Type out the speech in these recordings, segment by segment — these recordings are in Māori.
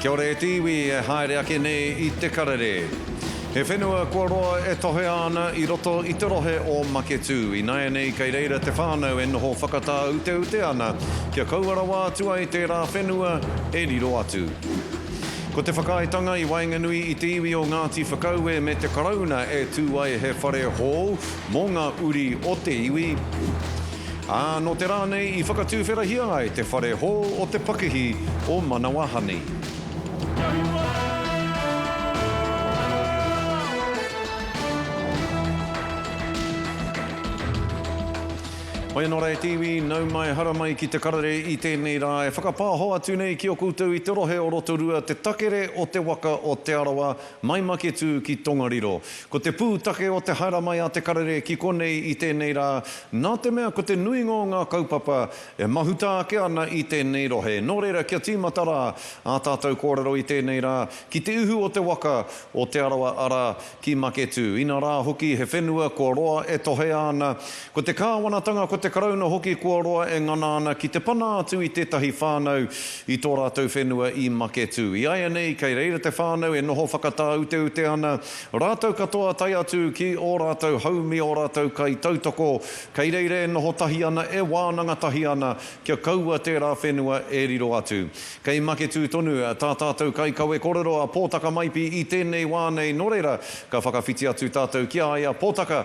Kia ora e te iwi e haere ake nei i te karere. He whenua kua roa e tohea ana i roto i te rohe o Maketū. Ināianei kei reira te whānau e noho whakatāuteute ana kia kaua rawa atu ai tērā whenua e riro atu. Ko te whakaaetanga i waenganui i te iwi o Ngāti Whakaue me te Karauna e tū ai he whare hou mō ngā uri o te iwi, ā, nō te rā nei i whakatūwherahia ai te whare hou o te pakihi o Manawahani. Hoi anō rā e te iwi, nau mai, hara mai ki te karere i tēnei rā e whakapāho atu nei ki a koutou i te rohe o Rotorua te takere o te waka o Te Arawa, Mai Maketū ki Tongariro. Ko te pūtake o te haere mai a Te Karere ki konei i tēnei rā, nā te mea ko te nuinga o ngā kaupapa e mahuta ake ana i tēnei rohe. Nō reira, kia tīmata rā ā tātou kōrero i tēnei rā, ki te uhu o te waka o Te Arawa arā, ki Maketū. Inarā hoki he whenua kua roa e tohea ana Ko te kāwanatanga, ko te Karauna hoki kua roa e ngana ana ki te pana atu i tētahi whānau i tō rātou whenua i Maketū. I āianei, kei reira te whānau e noho whakatāuteute ana, rātou katoa tae atu ki ō rātou haumi, ō rātou kaitautoko, kei reira e noho tahi ana, e wānanga tahi ana kia kaua tērā whenua e riro atu. Kei Maketū tonu tā tātou kaikawe korero a Pōtaka Maipi i tēnei wā nei, nō reira, ka whakawhiti atu tātou ki a ia, Pōtaka,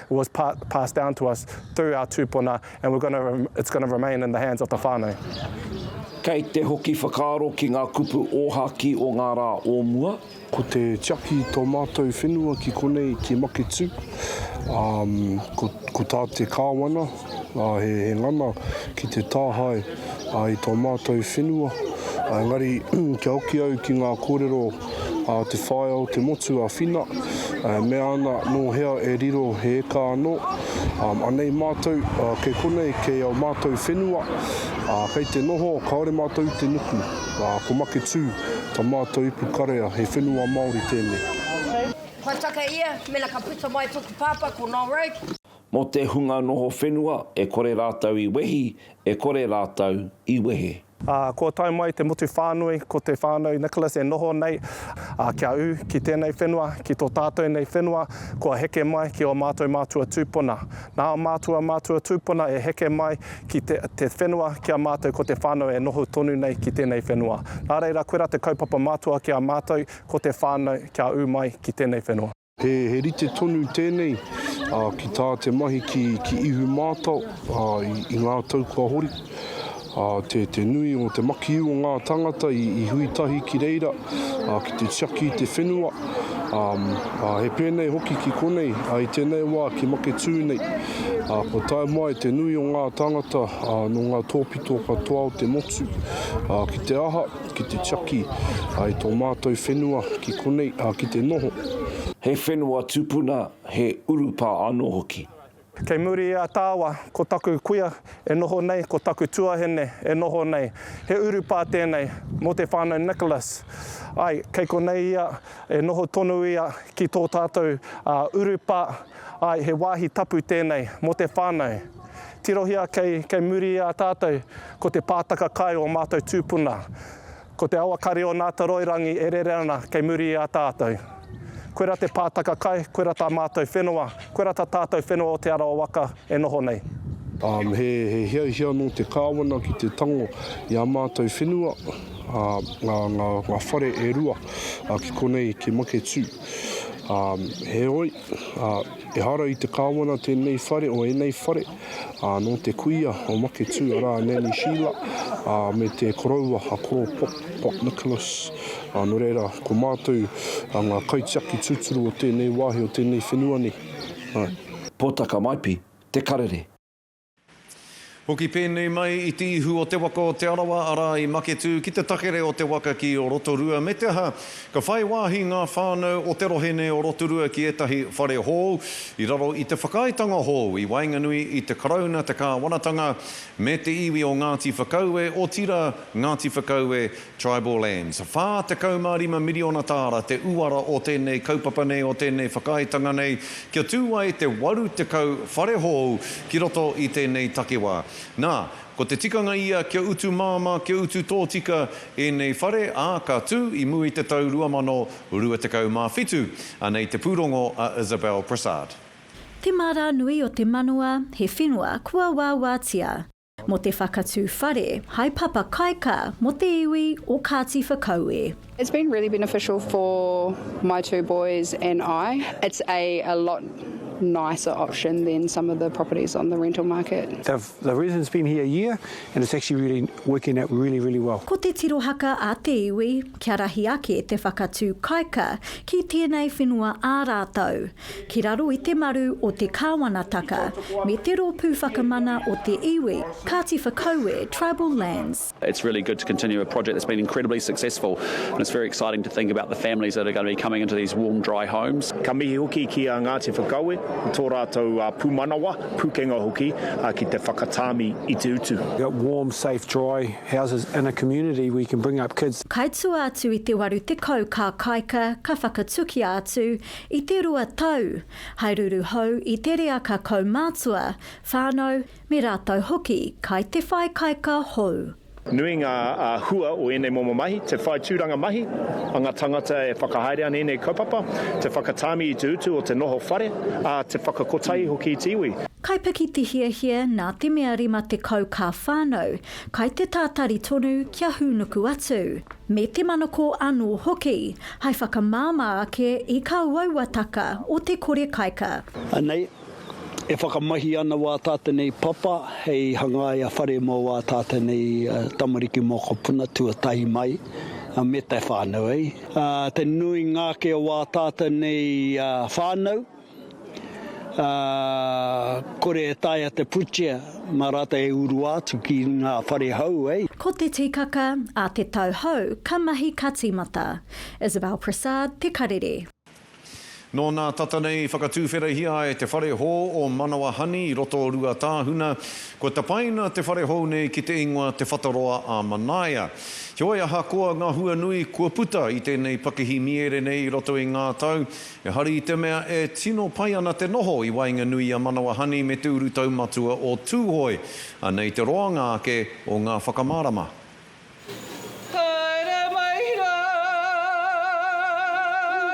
was pa passed down to us through our tūpuna and we're gonna it's gonna remain in the hands of the whānau. Kei te hoki whakaaro ki ngā kupu ōhākī o ngā rā o mua. Ko te tiaki i tō mātou whenua ki konei, ki Maketū, ā, ko, ko tā te kāwana, ngā hēhē ngana ki te tāhae i tō mātou whenua, engari kia hoki au ki ngā kōrero a te whaea o te motu a Whina, e mea ana nō hea e riro he eka anō, anei mātou, kei konei, kei ō mātou whenua, kei te noho, kāore mātou i te nuku, ko Maketū tā mātou ipu karea, he whenua Māori tēnei. Kua taka ia, mena ka puta mai toku pāpā ko Noel Roke. Mō te hunga noho whenua e kore rātou i wehi, e kore rātou i wehe. Ā, kua tae mai te motu whānui, ko te whānau Nicholas e noho nei, ā, kia ū ki tēnei whenua, ki tō tātou nei whenua, kua heke mai ki ō mātou mātua tūpuna. Nā ō mātua mātua tūpuna e heke mai ki te, te whenua ki a mātou ko te whānau e noho tonu nei ki tēnei whenua. Nā reira, koirā te kaupapa matua ki a mātou, ko te whānau kia ū mai ki tēnei whenua. He rite tonu tēnei ki tā te mahi ki ihu mātao i ngā tau kua hori. Te nui o te makiu o ngā tāngata i hui tahi ki reira ki te tiaki i te whenua. He pēnei hoki ki konei, i tēnei wā ki Maketū nei. Kua tae mai te nui o ngā tāngata nō ngā tōpito katoa o te motu. Ki te aha? Ki te tiaki ai tō mātou whenua ki konei, ā, ki te noho. He whenua tupuna, he urupā anō hoki. Kei muri i a Tāwa, ko taku kuia e noho nei, ko taku tuahine e noho nei. He urupā tēnei mō te whānau Nicholas. Āe, kei konei ia, e noho tonu ia ki tō tātou urupā. Āe, he wāhi tapu tēnei mō te whānau. Tirohia kei muri i a tātou. Ko te pātaka kai ō mātou tūpuna. Ko te awa kare o Nātaroirangi e rere ana kei muri i a tātou. Koirā te pātaka kai, koirā tā mātou whenua, koirā tā tātou whenua o Te Arawa waka e noho nei. Um, he, he hiahia nō te kāwana ki te tango i ā mātou whenua, ā, ngā, ngā, ngā whare e rua, ā, ki konei, ki Maketū. Um, heoi, Ā, ehara i te kāwana tēnei whare o ēnei whare, ā, nō te kuia o Maketū, arā, a Nanny Sheila, ā, me te koroua a Koro Pop, Pop Nicholas, ā, nō reira, ko mātou ngā kaitiaki tūturu o tēnei wāhi, o tēnei whenua nei. Ā. Pōtaka Maipi, Te Karere. Hoki pēnei mai i te ihu o te waka o Te Arawa, arā, i Maketū, ki te takere o te waka ki o Rotorua, me te aha, ka whai wāhi ngā whānau o te rohe nei o Rotorua ki ētahi whare hou, i raro i te whakaaetanga hou i waenganui i te Karauna, te kāwanatanga, me te iwi o Ngāti Whakaue, otirā, Ngāti Whakaue Tribal Lands. Whā tekau mā rima miriona tāra te uara o tēnei kaupapa nei, o tēnei whakaaetanga nei, kia tū ai te waru tekau whare hou ki roto i tēnei takiwā. Nā, ko te tikanga ia kia utu māmā, kia utu tōtika ēnei whare, ā, ka tū i mua i te tau 2027. Anei te pūrongo a Isabelle Prasad. Te mārā nui o te manawa, he whenua kua wāwātia. Mō te whakatū whare hai papa kaika mō te iwi o Kāti Whakaue. It's been really beneficial for my two boys and I. It's a a lot nicer option than some of the properties on the rental market. The residents been here a year and it's actually really working out really really well. Ko te tirohaka a te iwi kia rahi ake te whakatū kaika ki tēnei whenua ā rātou. ki raro i te maru o te Kāwanataka me te rōpū whakamana o te iwi, Kāti Whakaue Tribal Lands. It's really good to continue a project that's been incredibly successful and it's very exciting to think about the families that are going to be coming into these warm, dry homes. Ka mihi hoki ki a Ngāti Whakaue, tō rātou pūmanawa, pūkenga hoki, ki te whakatāmi i te utu. Got warm, safe, dry houses in a community where you can bring up kids. Kai tua atu i te waru tekau kā kaika ka whakatukia atu I te rua tau, hai ruru hou i te reaka kaumātua, whānau, me rātou hoki kai te whai kaika hou. Nui ngā hua o ēnei momo mahi, te whai tūranga mahi a ngā tāngata e whakahaere ana i ēnei kaupapa, te whakatāmi i te utu o te noho whare, ā, te whakakotahi hoki i te iwi. Kai piki te hiahia nā te mea 50 kā whānau kai te tātari tonu kia hūnuku atu, me te manako anō hoki. Hai whakamāmā ake i kā uauataka o te kore kaika. Anei, e whakamahi ana wā tātou nei papa hei hangaia whare mō wā tātou nei tamariki mokopuna tuatahi mai me te whānau, ā, te nuinga ake o wā tātou nei whānau. ā, kore e taea te putia mā rātou e urua atu ki ngā whare hou, hei. Ko te tikaka a te tau hou ka mahi ka tīmata. Isabelle Prasad, Te Karere. Nō nā tata nei i whakatūwherahia ai te whare hou o Manawahani i roto o Ruatāhuna, kua tapaina te whare hou nei ki te ingoa Te Whataroa a Manaia. Heoi ahakoa ngā hua nui kua puta i tēnei pakihi mīere nei i roto i ngā tau, Ehara i te mea e tino pai ana te noho i waenganui i a Manawa Honey me te urutau matua o Tūhoe. Anei te roanga ake o ngā whakamārama. Haere mai rā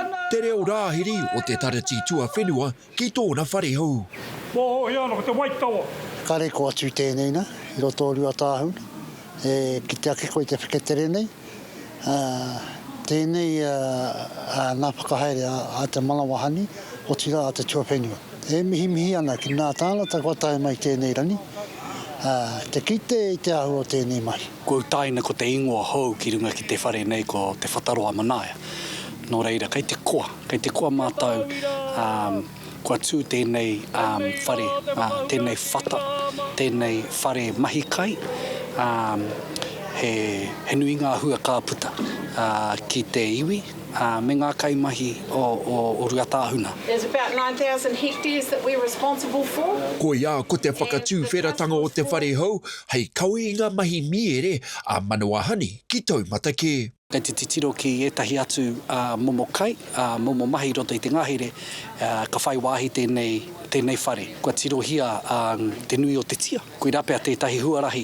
nā. Te reo rāhiri o te Tarati Tuawhenua ki tōna whare hou. Mōhio ana ko te waitawa. Kare ko atu tēnei na i roto o Ruatāhuna. E kite ake koe i te wheketere nei, ā, tēnei ngā whakahaere a te manawa hani, otirā a te tuawhenua. E mihimihi ana ki ngā tāngata kua tae mai i tēnei rangi, ā, te kite i te āhua o tēnei mahi. Kua utaina ko te ingoa hou ki runga ki te whare nei ko Te Whataroa Manaia. Nō reira, kei te koa, kei te koa mātou, ā, Kua tū tēnei whare, tēnei whata, tēnei whare mahi kai, he nui ngā hua ka puta ki te iwi me ngā kaimahi o Ruatāhuna. There's about 9,000 hectares that we're responsible for. Koia ko te whakatuwheratanga o te whare hou hei kawe i ngā mahi mīere a Manawahani ki Taumatakē. Kei te titiro ki ētahi atu momo kai, momo mahi i roto i te ngahere, ka whai wāhi tēnei whare. Kua tirohia te nui o te tia, koirā pea tētahi huarahi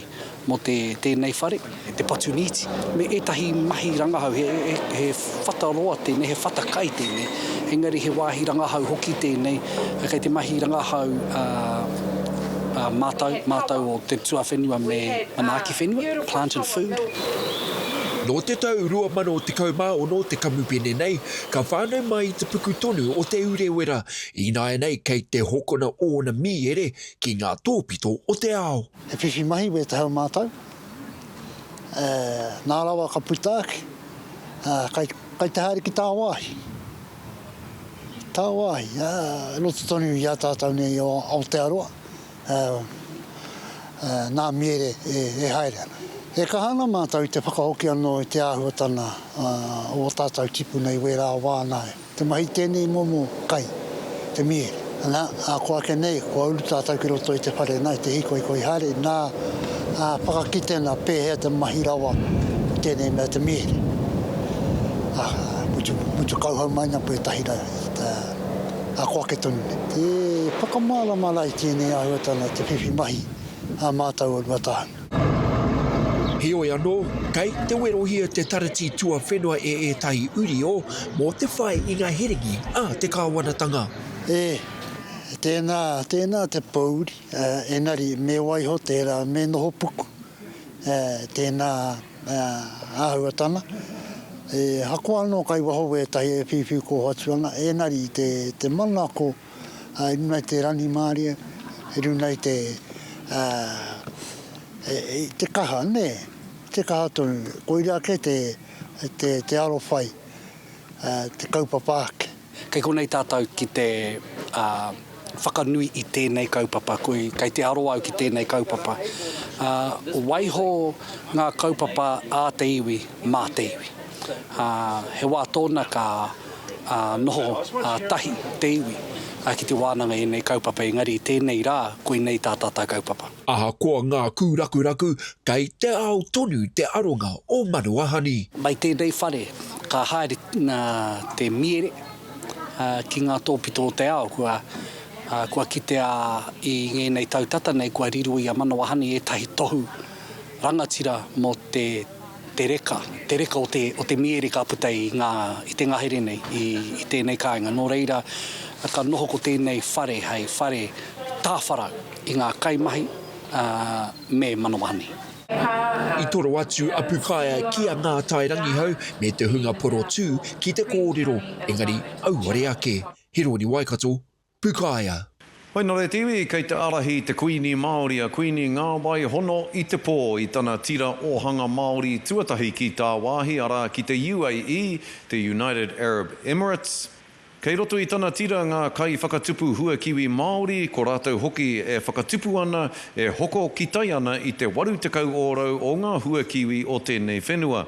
mō tēnei whare, te patu nīti, me ētahi mahi rangahau. He whata roa tēnei, he whata kai tēnei, engari he wāhi rangahau hoki tēnei. Kei te mahi rangahau mātau, mātau o te tuawhenua me manaaki whenua, plant and food. Nō te tau 2016 te kamupene nei ka whānau mai i te puku tonu o Te Urewera, ināianei kei te hokona ōna mīere ki ngā tōpito o te ao. He whiwhi mahi wē te hau mātau, ē, nā rawa ka puta ake, ā, kai, kai te haere ki tāwāhi. Tāwāhi, ā, i roto tonu i a tātau nei i Aotearoa. ā, ā, nā Miere e, e haere ana. E kaha ana mātou i te whakahoki anō i te āhuatana, ā, o ō tātou tipuna i wērā wā nā te mahi tēnei momo kai, te Miere. Nā, ā, kua eke nei, kua uru tātou ki roto i te whare nā, i te hīkoikoi haere, nā, ā, whakakite ana pēhea te mahi rawa o tēnei mea te Miere. Ā, mutu, mutu kauhau mai ana koe e tahira, ā, a ko ake tonu nei. E whakamārama ana i tēnei āhuatanga te whiwhi mahi a mātou o Ruatāhuna. Heoi anō, kei te werohia te Taratī Tuawhenua e ētahi uri o mō te whai i ngā herengi a te kāwanatanga. E, tēnā, tēnā te pōuri, engari me waiho tērā me noho puku, e, tēnā. Āhuatanga, E hako anō kai waho wētahi e whiwhi koho atu ana, ēngari i te manako i runga i te rangimārie, i runga i te kaha, nē, te kaha tonu. Koirā kē te arowhai, te kaupapa ake. Kei konei tātou ki te whakanui i tēnei kaupapa, kei te aro au ki tēnei kaupapa. Waiho ngā kaupapa ā te iwi, mā te iwi. He wā tōna ka noho tahi te iwi ki te wānanga i ēnei kaupapa, engari i tēnei rā, koinei tā tātou kaupapa. Ahakoa ngā kūrakuraku, kei te ao tonu te aronga o Manuahani. Mai tēnei whare. Ka haere te miere ki ngā tōpito o te ao, kua kitea i ngēnei tau tata nei kua riro i a Manawa Honey ētahi tohu rangatira mō te reka, te reka o te miere ka puta i te ngahere nei, i tēnei kāinga. Nō reira, ka noho ko tēnei whare hei whare tāwharau i ngā kaimahi me Manawa Honey. I toro atu a Pukaea ki a Ngātai Rangihau me te hunga porotū ki te kōrero, engari auare ake. Hirori Waikato, Pukaea. Hoi nō reiti, kei te ārahi te Kuini Māori a Kuini Ngāwai Hono i te pō i tana tira ōhanga Māori tuatahi ki tāwāhi, arā, ki te UAE, te United Arab Emirates. Kei roto i tana tira ngā kaiwhakatupu hua kiwi Māori, ko rātou hoki e whakatupu ana, e hoko kitai ana i te 80 ōrau o ngā hua kiwi o tēnei whenua.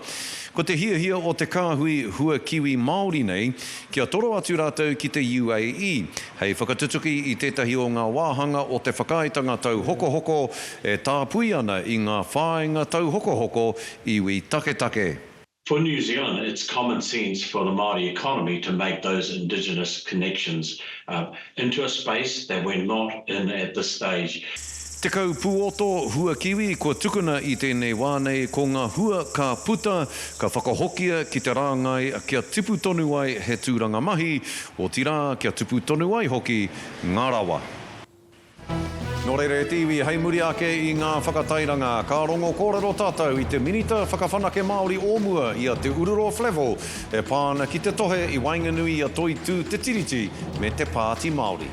Ko te hiahia o te kāhui hua kiwi Māori nei, kia toro atu rātou ki te UAE, hei whakatutuki i tētahi o ngā wāhanga o te Whakaaetanga Tauhokohoko e tāpui ana i ngā whāinga tauhokohoko iwi taketake. For New Zealand, it's common sense for the Māori economy to make those indigenous connections into a space that we're not in at this stage. Tekau puoto hua kiwi kua tukuna i tēnei wā nei ko ngā hua ka puta, ka whakahokia ki te rāngai kia tipu tonu ai he tūranga mahi, otirā kia tupu tonu ai hoki ngā rawa. Nō reira e te iwi, hei muri ake i ngā whakatairanga, ka rongo kōrero tātou i te Minita Whakawhanake Māori o mua, i a Te Ururo Flavell, e pā ana ki te tohe i waenganui i a Toitū Te Tiriti me te Pāti Māori.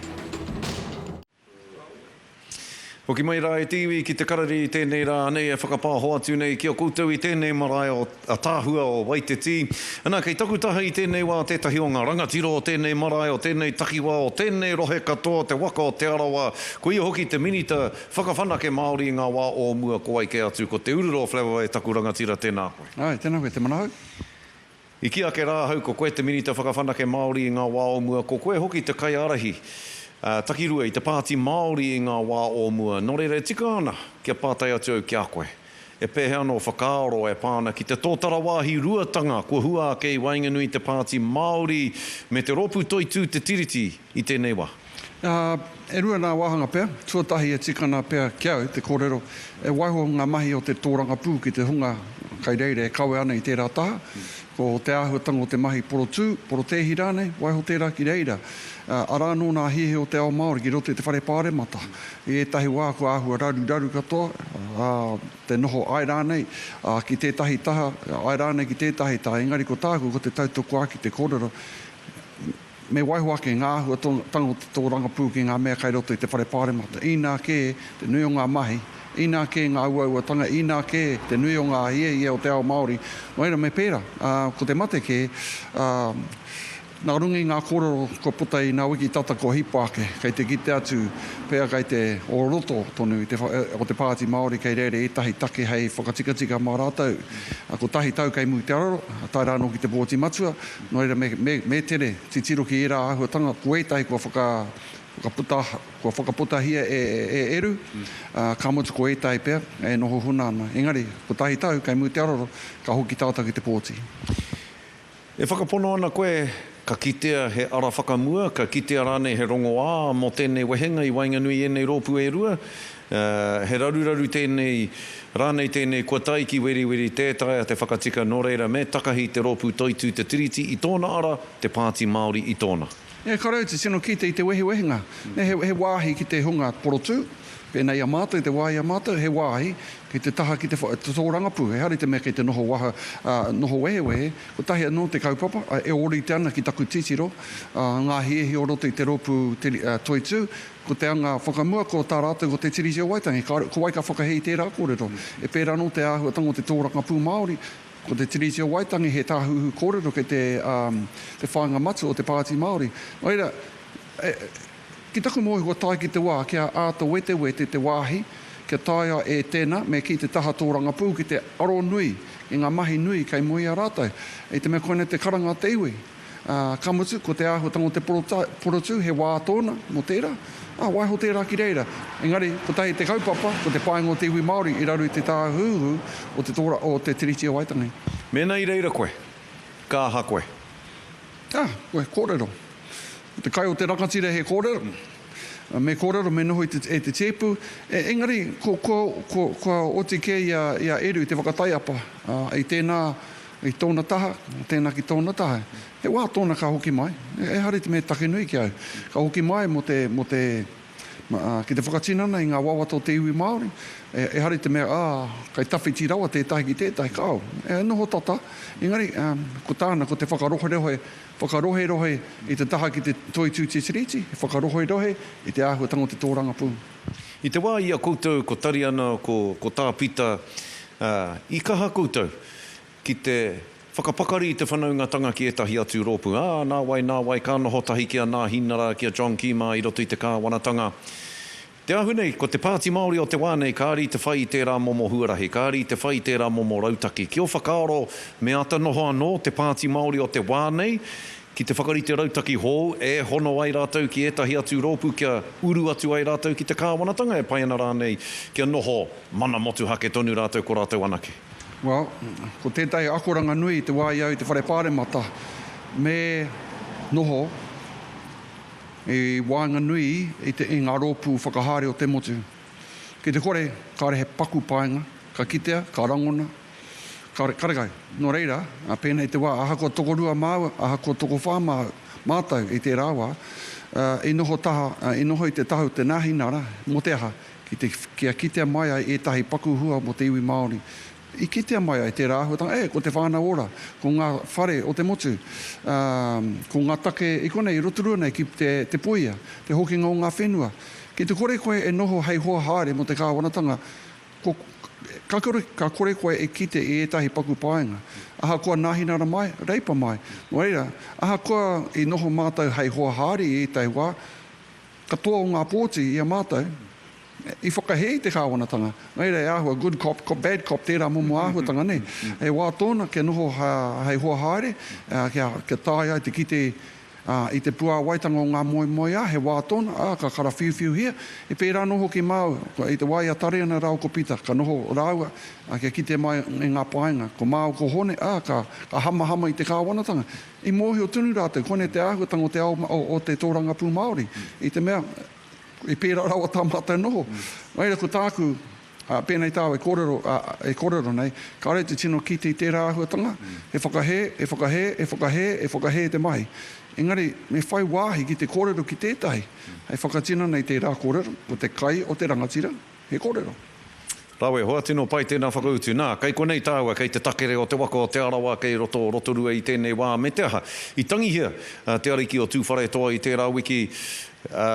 Hoki mai rā e te iwi ki te Karari i tēnei rā nei e whakapāho atu nei ki a koutou i tēnei marae o. Ataahua o Waiteti. Ana, kei taku taha i tēnei wā tētahi o ngā rangatiro o tēnei marae, o tēnei takiwā, o tēnei rohe katoa, te waka o Te Arawa, koia hoki te Minita Whakawhanake Māori i ngā wā o mua ko wai kē atu, ko Te Urura o Flewa e taku rangatira, tēnā koe. Āe, tēnā koe, te manahau. I kī ake rā ahau, ko koe te Minita Whakawhanake Māori i ngā wā o mua, ko koe hoki te kaiārahi takirua i te Pāti Māori i ngā wā o mua, nō reira e tika ana kia pātai atu au ki a koe. He pēhea anō whakaaro e pā ana ki te tōtara wāhi ruatanga kua hua ake i waenganui i te Pāti Māori me te Rōpū Toitū Te Tiriti i tēnei wā? E rua nā wāhanga pea, tuatahi e tika ana pea ki au te kōrero e waiho ngā mahi o te tōrangapū ki te hunga kai reira e kawe ana i tērā taha, ko te āhuatanga o te mahi porotū, porotēhi rānei, waiho tērā ki reira. Arā anō nā hīhī o te ao Māori ki roto i te whare pāremata. I ētahi wā kua āhua raruraru katoa te noho, āe rānei ki tētahi taha, āe rānei ki tētahi taha, engari ko tāku ko te tautokua ki te kōrero, me waiho ake ngā āhuatanga o te tōrangapū ki ngā mea kei roto i te Whare Pāremata, inā kē te nui o ngā mahi, inā kē ngā uauatanga, inā kē te nui o ngā hiahia o te ao Māori, wā ērā me pērā, ko te mate kē, Nā runga i ngā kōrero kua puta i nā wiki tata kua hipa ake, kei te kite atu pea kei te o roto tonu o te Pāti Māori kei reira ētahi take hei whakatikatika mā rātou kotahi tau kei muri te araro, tae rā anō ki te Booti Matua. Nō reira, me, me tere titiro ki ērā āhuatanga, ko ētahi kua whaka, whakaputa, kua whakaputahia e, e Eru, ā, ka mutu ko ētahi pea e noho huna ana. Engari, kotahi tau kei muri te araro, ka hoki tātou ki te pōti. E whakapono ana koe, ka kitea he ara whakamua, ka kitea rānei he rongoā mō tēnei wehenga i waenganui i ēnei rōpū e rua? He raruraru tēnei, rānei tēnei kua tae ki weriweri tē taea te whakatika nō reira me takahi te rōpū toitū te Tiriti i tōna ara, te Pāti Māori i tōna. Nē, ka rau te tino kite i te wehewehenga, nē, he wāhi ki te hunga porotū, pēnā i a mātou, te wā i a mātou, he wāhi Kei te taha ki te tōrangapū, ehara i te mea kei te noho waha, ā, noho wehewehe. Kotahi anō te kaupapa, ā, e ōrite ana ki taku titiro, ā, ngā hiehi o roto i te rōpū Toitū, ko te anga whakamua, ko tā rātou ko Te Tiriti o Waitangi. Kāore, ko wai ka whakahē i tērā kōrero? E pērā anō te āhuatanga o te tōrangapū Māori, ko Te Tiriti o Waitangi he tāhuhu kōrero kei te, ā, te whāinga matua o te Pāti Māori. Nō reira, e. Ki taku moe kua tae ki te wā kia āta wetewete te wāhi, kia taea e tēnā me kī te taha tōrangapū ki te aro nui i ngā mahi nui kei mua i a rātou. I te mea koinei te karanga o te iwi, ā, ka mutu, ko te āhuatanga o te porotū he wā tōna mō tērā, ā, waiho tērā ki reira. Engari, kotahi te kaupapa, ko te painga o te iwi Māori i raru i te tāhuhu o te Tiriti o Waitangi. Mēnā i reira koe, ka aha koe? Ā, koe, kōrero. Ko te kai o te rangatira he kōrero, me kōrero, me noho e te tēpu, engari kua oti kē i a Eru i te whakataiapa i tēnā i tōna taha, tēnā ki tōna taha. He wā tōna ka hoki mai, ehara i te mea he take nui ki a au, ka hoki mai mō te, mō te, ki te whakatinana i ngā wawata o te iwi Māori, ehara i te mea, ā, kei tawhiti rawa tētahi ki tētahi, kāo, e noho tata, engari ko tāna ko te whakaroherohe Whakaroherohe i te taha ki te toitū te Tiriti, whakaroherohe i te āhuatanga o te tōrangapū. I te wā i a koutou ko Tariana, ko Tāpita, i kaha koutou ki te whakapakari i te whanaungatanga ki ētahi atu rōpū, ā, nāwai, nāwai ka noho tahi ki a Nāhinara, ki a John Kīmā i roto i te kāwanatanga. Te ahu nei, ko te Pāti Māori o te wā nei kāre i te whai i tērā momo huarahi, kāre i te whai i tērā momo rautaki. Ki ō whakaaro, me āta noho anō te Pāti Māori o te wā nei ki te whakarite rautaki hou e hono ai rātou ki ētahi atu rōpū kia uru atu ai rātou ki te kāwanatanga e pai ana rānei kia noho mana motuhake tonu rātou ko rātou anake. Well, ko tētahi akoranga nui i te wā i au i te Whare Pāremata, me noho i waenganui i te i ngā rōpū whakahaere o te motu. Ki te kore, kāre he paku paenga, ka kitea, ka rangona, ka karekau. Nō reira, pēnei te wā, ahakoa tokorua māu, ahakoa tokowhā māu, mātou i tērā wā, i noho taha, i noho i te taha o te nāhinara, mō te aha, ki te, kia kitea mai ai ētahi paku hua mō te iwi Māori, I kitea mai ai tērā āhuatanga, ē, ko te Whānau Ora, ko ngā whare o te motu, ā, ko ngā take i konei, i Rotorua nei ki te, te puia, te hokinga o ngā whenua. Ki te kore koe e noho hei hoa haere mō te kāwanatanga, ko, ka kore, ka kore koe e kite i ētahi paku paenga. Ahakoa nāhinara mai, reipa mai, nō reira, ahakoa i noho mātou hei hoa haere i ētahi wā, Katoa o ngā pōti i a mātou i whakahē i te kāwanatanga. Nō reira, he āhua good cop, bad cop tērā momo āhuatanga nei. He wā tōna kia noho hei hoa haere, kia tae ai te kite i te puāwaitanga o ngā moemoeā, he wā tōna, ā, ka karawhiuwhiuhia. He pērā anō hoki māu, i te wā i a Tareana rāua ko Pita, ka noho rāua kia kite mai i ngā painga. Ko māu ko Hone, ā, ka hamahama i te kāwanatanga. I mōhio tonu rātou, kōnei te āhuatanga o te ao, o te tōrangapū Māori, i te mea, i pērā rawa tā mātou noho. Nō reira, ko tāku, pēnei tāu e kōrero, e kōrero nei, kāore te tino kite i tērā āhuatanga, he whakahē, he whakahē, he whakahē, he whakahē te mahi. Engari, me whai wāhi ki te kōrero ki tētahi, hei whakatinana i tērā kōrero, ko te kai o te rangatira, He kōrero. Rawe, hoa tino pai tēnā whakautu. Nā, kei konei tāua, kei te takere o te waka o Te Arawa kei roto o Rotorua i tēnei wā, me te aha, i tangihia a Te Ariki o Tūwharetoa i tērā wiki, ā,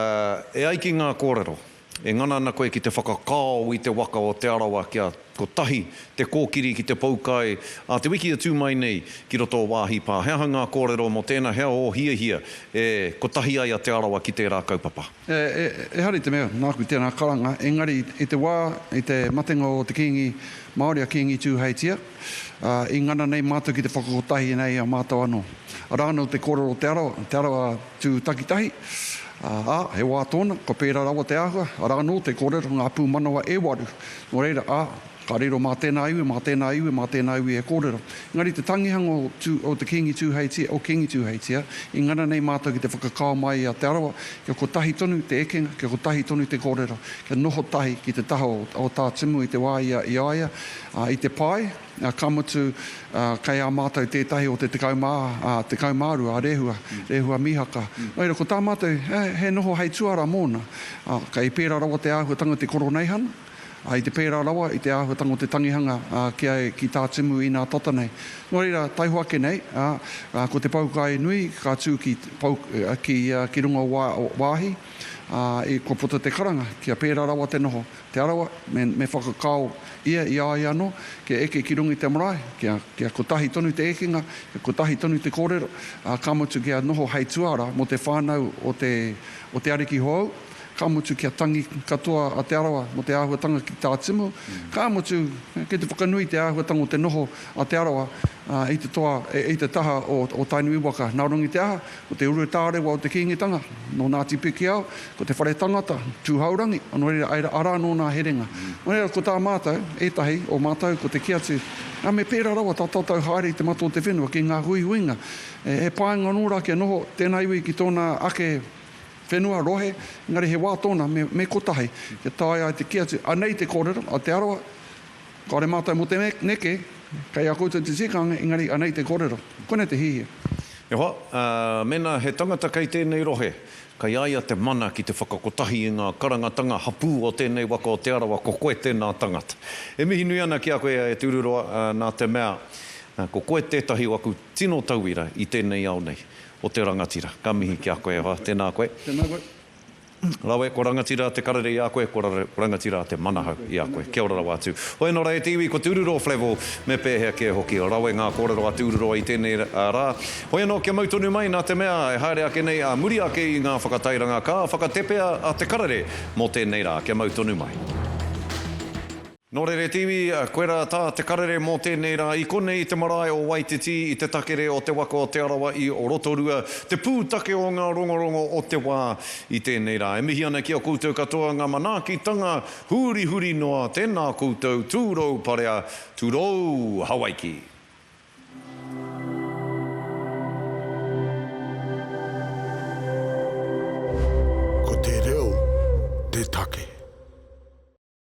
e ai ki ngā kōrero, e ngana ana koe ki te whakakao i te waka o Te Arawa kia kotahi te kōkiri ki te poukai a te wiki e tū mai nei ki roto o Wāhi Pā. He aha ngā kōrero mō tēnā, he aha ō hiahia e kotahi ai a Te Arawa ki tērā kaupapa? Ehara i te mea, nāku tēnā karanga, engari i te wā, i te matenga o te Kīngi Māori a Kīngi Tūheitia, i ngana nei mātou ki te whakakotahi nei i a mātou anō. Arā anō te kōrero o Te Arawa, Te Arawa tū takitahi, ā, he wā tōna, kua pērā rawa te āhua, arā anō te kōrero, ngā pūmanawa e waru, nō reira, ā, Ka riro, Mā tēnā iwi, mā tēnā iwi, mā tēnā iwi e kōrero. Engari te tangihanga o Tū, o te Kīngi Tūheitia, o Kīngi Tūheitia, i ngana nei mātou ki te whakakao mai i a Te Arawa, kia kotahi tonu te ekenga, kia kotahi tonu te kōrero, kia noho tahi ki te taha o, o Tā Timu i te wā i a, i a ia, ā, i te pae, ā, ka mutu, ā, kei a mātou tētahi o te tekau mā, ā, tekau mā rua, a Rehua, Rehua Mihaka. Nō reira, ko tā mātou, he, he noho hei tuara mōna, ā, kei pērā rawa te āhuatanga o te koroneihana, I te pērā rawa i te āhuatanga o te tangihanga ki a ki tā Timu inā tata nei. Nō reira, taihoa ake nei, ko te poukai nui ka tū ki pou ki ki runga o wāhi i kua puta te karanga kia pērā rawa te noho. Te Arawa, me me whakakao ia i a ia anō kia eke ki runga i te marae, kia kia kotahi tonu te ekenga, kia kotahi tonu te kōrero, ka mutu kia noho hei tuara mō te whānau o te o te ariki hōu, Ka mutu kia tangi katoa a Te Arawa mō te āhuatanga ki tā Timu, ka mutu, kei te whakanui te āhuatanga o te noho a Te Arawa i te toa, i te taha o Tainui waka. Nā runga i te aha, ko te urutārewa o te Kīngitanga, nō Ngāti Pikiao, ko te whare tangata, Tūhourangi, nō reira, āe rā, arā anō nā herenga. Nō reira, ko tā mātou, ētahi o mātou, ko te kī atu, nā, me pērā rawa tā tātou haere i te mata o te whenua ki ngā huihuinga, he painga anō rā kia noho tēnā iwi ki tōna ake Whenua, rohe, engari he wā tōna me, me kotahi, kia taea ai te kī atu, anei te kōrero a Te Arawa, kāore mātou mō te neke, kei a koutou te tikanga, engari anei te kōrero. Koinei te hihia. E hoa, ā, mēnā he tangata kei tēnei rohe, kei a ia te mana ki te whakakotahi i ngā karangatanga hapū o tēnei waka o Te Arawa, ko koe tēnā tangata. E mihi nui ana ki a koe, e Tūruroa, nā te mea, ko koe tētahi o aku tino tauira i tēnei ao nei. o te rangatira. Ka mihi ki a koe e hoa. Tēnā koe. Tēnā koe. Rawe, ko Rangatira te karere i a koe, ko Rangatira te manahau i a koe. Kia ora rawa atu. Hoi nō ra e te iwi, ko Tūrurō Flavell, me pēhea kē hoki. Rawe ngā kōrero a Tūrurō i tēnei rā. Hoi anō kia mau tonu mai nā te mea e haere ake nei ā muri ake i ngā whakatairanga ka whakatepea a te karere mō tēnei rā. Kia mau tonu mai. Nō Reretiwi, koe rā tā te karere mō tēnei rā i konei i te marae o Waititi i te takere o te waka o Te Arawa i Rotorua, te pūtake o ngā rongorongo o te wā i tēnei rā. E mihi ana ki a koutou katoa ngā manaakitanga hurihuri noa, tēnā koutou, tūrou parea, tūrou Hawaiki. Ko te reo te take.